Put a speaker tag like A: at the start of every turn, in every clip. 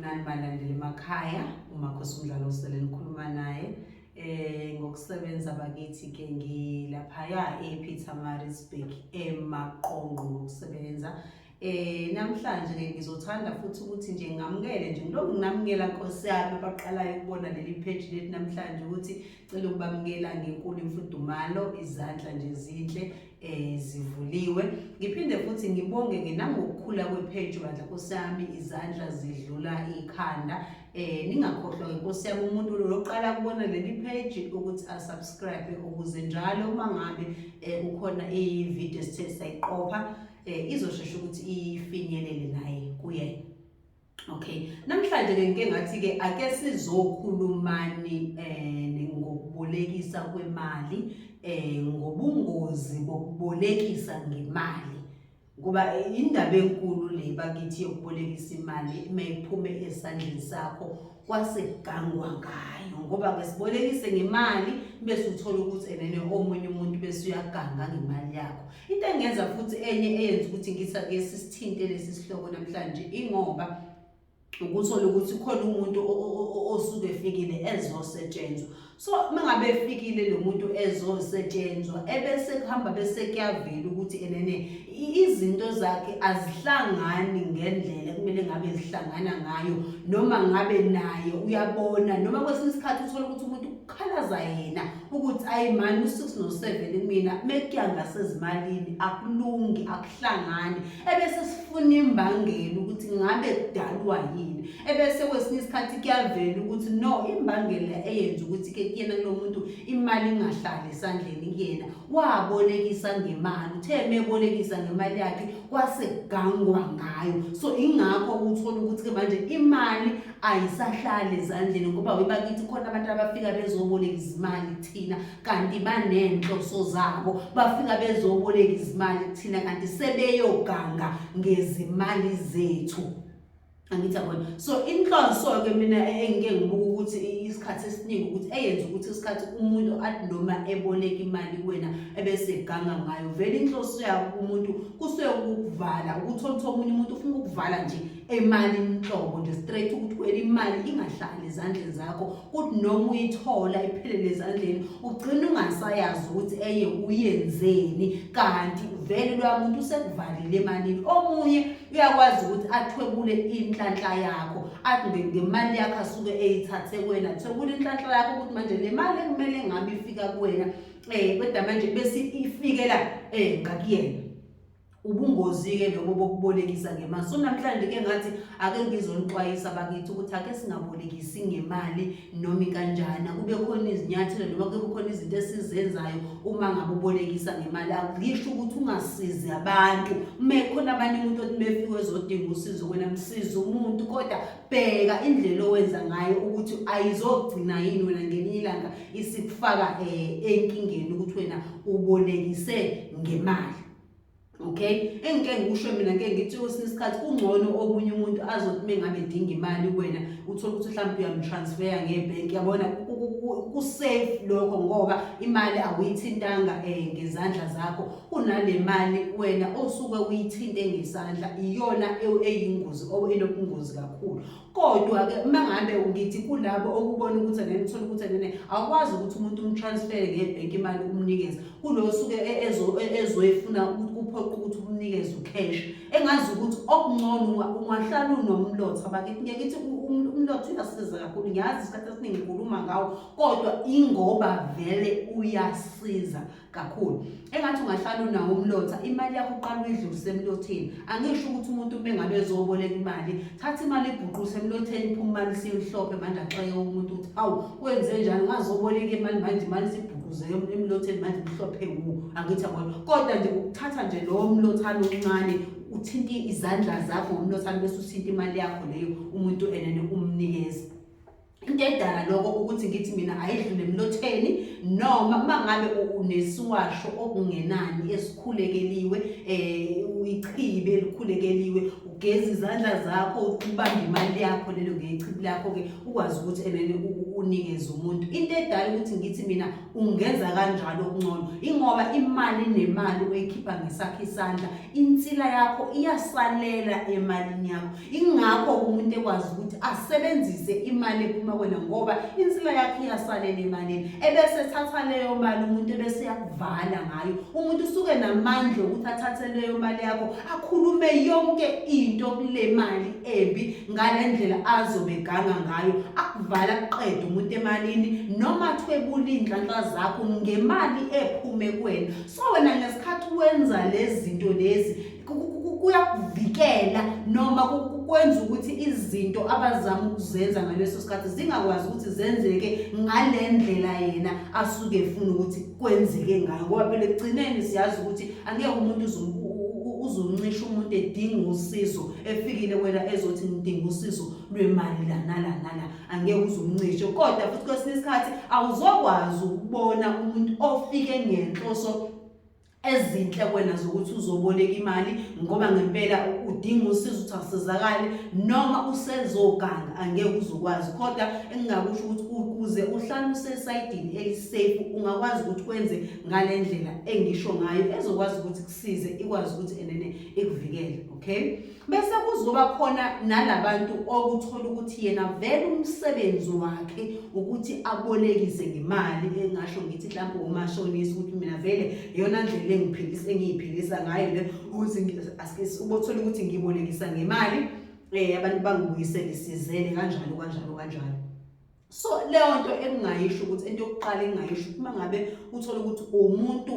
A: Nani balandeli emakhaya umakhosi umdlalo usele nikhuluma naye eh ngokusebenza bakithi ke ngilaphaya ePietermaritzburg emaqonqo ngokusebenza eh namhlanje ke ngizothanda futhi ukuthi nje ngamukele nje ngilokhu nginamukela Nkosi yami abaqalayo ukubona leli page lethu namhlanje ukuthi cela ukubamukela ngenkulu imfudumalo izandla nje zinhle eh zivuliwe ngiphinde futhi ngibonge ke nangokukhula kwepage bandla kusami izandla zidlula ikhanda eh ningakhohlwa ke Nkosi yami umuntu loqala kubona leli page ukuthi a subscribe ukuze njalo uma ngabe eh, kukhona i video sithe sayiqopha eh izoshesha ukuthi ifinyelele naye kuyena Okay, namhlanje ke ngike ngathi ke ake sizokhulumani eh ngokubolekisa kwemali eh ngobungozi bokubolekisa ngemali ngoba indaba enkulu le bakithi yokubolekisa imali mayiphume esandleni sakho kwase kugangwa ngayo ngoba ke sibolekise ngemali bese uthola ukuthi enene omunye umuntu bese uyaganga ngemali yakho into engenza futhi enye eyenza ukuthi ngitha ke sisithinte lesi sihloko namhlanje ingoba ukuthola ukuthi khona umuntu osuke efikile ezosetshenzwa so mangabe efikile lo muntu ezosetshenzwa ebese kuhamba bese kuyavela ukuthi enene izinto zakhe azihlangani ngendlela kumele ngabe zihlangana ngayo noma ngabe naye uyabona noma kwesinye isikhathi uthole ukuthi umuntu ukhalaza yena ukuthi ayi mani u-six no-seven kumina mekuya ngasezimalini akulungi akuhlangani ebese sifuna imbangela ukuthi ngabe kudalwa yini ebese kwesinye isikhathi kuyavela ukuthi no imbangela eyenza ukuthi ke kuyena kulo muntu imali ingahlali esandleni kuyena wabolekisa ngemali uthe mebolekisa ngemali yakhe kwase kugangwa ngayo so ingakho uthola ukuthi ke manje imali ayisahlali ezandleni ngoba webakithi khona abantu abafika bezoboleka izimali kuthina kanti banenhloso zabo bafika bezoboleka izimali kuthina kanti sebeyoganga ngezimali zethu angithi yabona so inhlonso-ke mina e-, engike ngibuka ukuthi isikhathi esiningi ukuthi eyenza ukuthi isikhathi umuntu athi noma eboleka imali kuwena ebese eganga ngayo vele inhloso yabo kumuntu kusuke ukukuvala ukuthi olutho omunye umuntu ufuna ukukuvala nje emalini nhlobo nje straight ukuthi kwela imali ingahlali ezandleni zakho kuthi noma uyithola iphelele ezandleni ugcina ungasayazi ukuthi eye uyenzeni kanti vele loya muntu usekuvalile emalini omunye uyakwazi ukuthi athwebule inhlanhla yakho athi ngemali yakho asuke eyithathe kuwena thwebula inhlanhla yakho ukuthi manje le mali ekumele ngabe ifika kuwena um kodwa manje bese ifikela um ngakuyena ubungozi-ke lobo bokubolekisa ngemali so namhlanje-ke ngathi ake ngizonixwayisa bakithi ukuthi ake singabolekisi ngemali noma ikanjani akube khona izinyathelo noma kube khona izinto esizenzayo uma ngabe ubolekisa ngemali akusho ukuthi ungasizi abantu uma ekhona abanye umuntu othi befike ezodinga usizo wena msize umuntu kodwa bheka indlela owenza ngayo ukuthi ayizogcina yini wena ngelinye ilanga isikufaka um enkingeni ukuthi wena ubolekise ngemali okay engike ngikusho mina ngeke ngithi kwesinye isikhathi kungcono okunye umuntu azothi uma ngabe edinga imali kuwena uthole ukuthi mhlawumbe uyamutransfera ngebhenki yabona kusafe lokho ngoba imali awuyithintanga um ngezandla zakho kunale mali wena osuke uyithinte ngesandla iyona eyingozi or enobungozi kakhulu kodwa-ke uma ngabe ngithi kulabo okubona ukuthi angeke ngithole ukuthi angene awukwazi ukuthi umuntu umtransfere ngebhenki imali umnikeze kulo osuke e-, e-, ezoyifuna kuphoqa ukuthi umnikeze ucash engazi ukuthi okungcono ungahlala unomlotha bakithi ngeke ithi umlotha uyasiza kakhulu ngiyazi isikhathi esiningi ngikhuluma ngawo kodwa ingoba vele uyasiza kakhulu engathi ungahlala unawo umlotha imali yakho uqala uyidlulise emlotheni angisho ukuthi umuntu uma engabe ezoboleka imali thatha imali ibhuquse emlotheni phuma imali siyihlope manje axeke umuntu ukuthi awu wenze njani ungazoboleka imali manje imali sibhuquze emlotheni manje mhlophe wu angithi yabona kodwa nje ukuthatha nje lowo mlothana omncane uthinte izandla zakho ngomlothana bese uthinta imali yakho leyo umuntu enene umnikeza into edala lokho ukuthi ngithi mina ayidlule emlotheni noma uma ngabe unesiwasho okungenani esikhulekeliwe um uyichibe elikhulekeliwe ugeza izandla zakho ubambe imali yakho lelo ngechibi lakho-ke ukwazi ukuthi enene unikeze umuntu into edala ukuthi ngithi mina ungenza kanjalo okungcono ingoba imali nemali oyikhipha ngesakho isandla insila yakho iyasalela emalini yakho ingakho umuntu ekwazi ukuthi asebenzise imali ephuma kwena ngoba insila yakhe iyasalela emalini ebese ethatha leyo mali umuntu ebese uyakuvala ngayo umuntu usuke namandla okuthi athathe leyo mali yakho akhulume yonke into kule mali embi ngale ndlela azobe ganga ngayo akuvala kuqeda umuntu emalini noma thwebula iy'nhlanhla zakho ngemali ephume kwena so wena ngesikhathi wenza lezi zinto lezi kuyakuvikela noma kwenza ukuthi izinto abazama ukuzenza ngaleso sikhathi zingakwazi ukuthi zenzeke ngale ndlela yena asuke efuna ukuthi kwenzeke ngayo ngoba phela ekugcineni siyazi ukuthi angeke umuntu uzoncisha umuntu edinga usizo efikile wena ezothi ngidinga usizo lwemali lana lana la angeke uzomncishe kodwa futhi kwesinye isikhathi awuzokwazi ukubona umuntu ofike ngenhloso ezinhle kwena zokuthi uzoboleka imali ngoba ngempela udinga usizo ukuthi asizakale noma usezoganga angeke uzokwazi kodwa engingakusho ukuthi ukuze uhlale usesayidini elisafe ungakwazi ukuthi kwenze ngale ndlela engisho ngayo ezokwazi ukuthi kusize ikwazi ukuthi enene ikuvikele okay bese kuzoba khona nalabantu okuthola ukuthi yena vele umsebenzi wakhe ukuthi abolekise ngemali engasho ngithi mhlawumbe umashonisa ukuthi mina vele yona ndlela engiphilisa engiyiphilisa ngayo le ukuthi ubothola ukuthi ngibolekisa ngemali eh abantu bangibuyisele sizele kanjalo kanjalo kanjalo so leyo nto engingayisho ukuthi into yokuqala engingayisho uma ngabe uthole ukuthi umuntu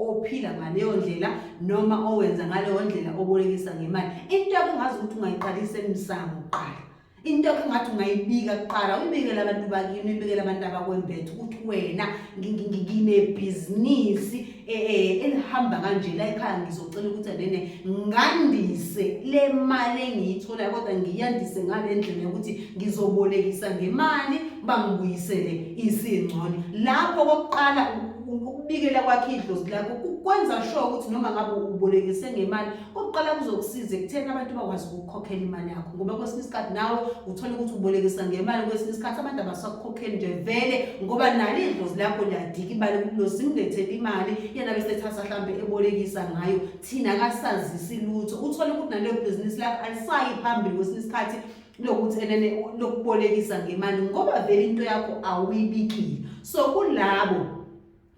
A: ophila ngaleyo ndlela noma owenza ngaleyo ndlela obolekisa ngemali into yakho ngazi ukuthi ungayiqalisa emsango kuqala into yakho ngathi ungayibika kuqala uyibikele abantu bakini uyibikele abantu abakwembethe ukuthi wena nginebhizinisi eh, eh, enihamba kanje la ekhaya ngizocela ukuthi nene ngandise le mali engiyitholayo kodwa ngiyandise ngale ndlela yokuthi ngizobolekisa ngemali bangibuyisele isingcono lapho kokuqala ukubikela kwakhe idlozi lakho kwenza sure ukuthi noma ngabe ubolekise ngemali Ukuqala kuzokusiza ekutheni abantu bakwazi ukukhokhela imali yakho ngoba kwesinye isikhathi nawe uthole ukuthi ubolekisa ngemali kwesinye isikhathi abantu abasakukhokheli nje vele ngoba nalo idlozi lakho liyadika imali kulosi ngilethele imali yena bese ethatha mhlawumbe ebolekisa ngayo thina kasazisi lutho uthole ukuthi naleyo bhizinisi lakho alisayi phambili kwesinye isikhathi lokuthi enene lokubolekisa ngemali ngoba vele into yakho awuyibikile so kulabo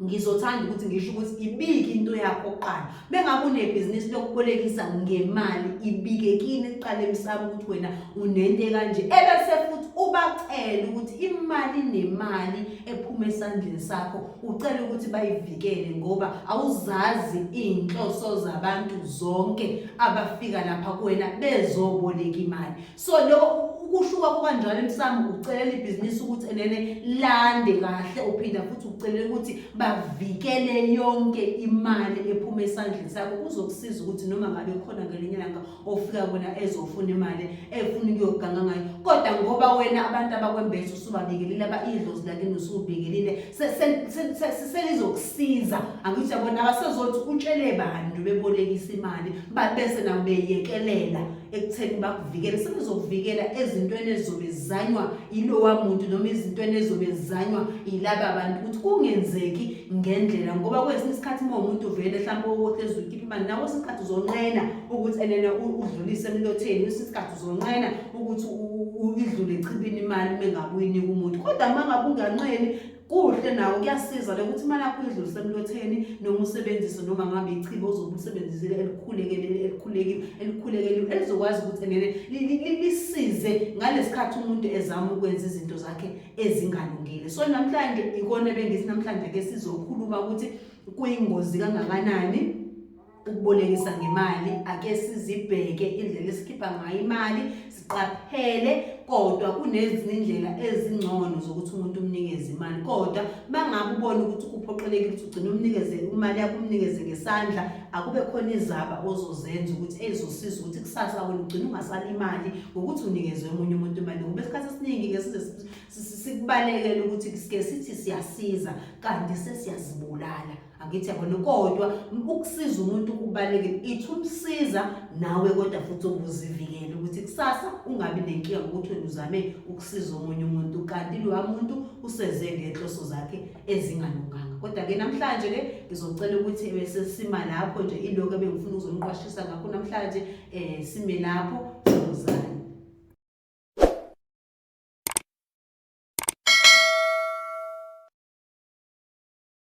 A: ngizothanda ukuthi ngisho ukuthi ibike into yakho kuqala bengabe unebhizinisi lokubolekisa ngemali ibike kini kuqala emsamo ukuthi wena unento kanje ebese futhi ubacele ukuthi imali nemali ephuma esandleni sakho ucele ukuthi bayivikele ngoba awuzazi iy'nhloso zabantu zonke abafika lapha kuwena bezoboleka imali so lokho ukushuka kukanjalo emsamo ukucelela ibhizinisi ukuthi enene lande kahle uphinda futhi ukucelela ukuthi bavikele yonke imali ephuma esandleni sakho kuzokusiza ukuthi noma ngabe khona ngelinye langa ofika kwena ezofuna imali efuna ukuyoganga ngayo kodwa ngoba wena abantu abakwembesa usubabikelile abayidlozi lakini usubikelile selizokusiza angithi yabona abasezothi utshele bantu bebolekisa imali babese nabo beyekelela ekutheni bakuvikele sekuzokuvikela ezintweni ezizobe zizanywa yilowa muntu noma izintweni ezizobe zizanywa yilaba bantu ukuthi kungenzeki ngendlela ngoba kwesinye isikhathi uma umuntu uvele mhlawumbe ukuthi ezoyikhipha imali nawo isikhathi uzonqena ukuthi enene udlulise emlotheni kwesinye isikhathi uzonqena ukuthi idlule echibini imali uma ngakuyinika umuntu kodwa uma ngabe unganqeni kuhle nawo kuyasiza le ukuthi imali yakho idlulise emlotheni noma usebenzise noma ngabe ichibo ozobe usebenzisile elikhulekele elikhulekile elikhulekeliwe elizokwazi ukuthi enene lisize ngalesikhathi umuntu ezama ukwenza izinto zakhe ezingalungile so namhlanje ikona bengithi namhlanje ke sizokhuluma ukuthi kuyingozi kangakanani ukubolekisa ngemali ake sizibheke indlela esikhipha ngayo imali siqaphele kodwa kunezinye indlela ezingcono zokuthi umuntu umnikeze imali kodwa mangabe ubona ukuthi kuphoqelekile ukuthi ugcine umnikeze imali yakho umnikeze ngesandla akube khona izaba ozozenza ukuthi ezosiza ukuthi kusasa wena ugcine ungasali imali ngokuthi unikeze omunye umuntu imali ngoba esikhathi esiningi ke size sikubalekele ukuthi sike sithi siyasiza kanti sesiyazibulala angithi yabona kodwa ukusiza umuntu kubalulekile ithi umsiza nawe kodwa futhi ukuzivikele ukuthi kusasa ungabi nenkinga ngokuthi wena uzame ukusiza omunye umuntu kanti lowa muntu useze ngenhloso zakhe ezingalunganga kodwa-ke namhlanje-ke ngizocela ukuthi besesima lapho nje ilokho ebengifuna ukuzoniqwashisa ngakho namhlanje um sime lapho sizozana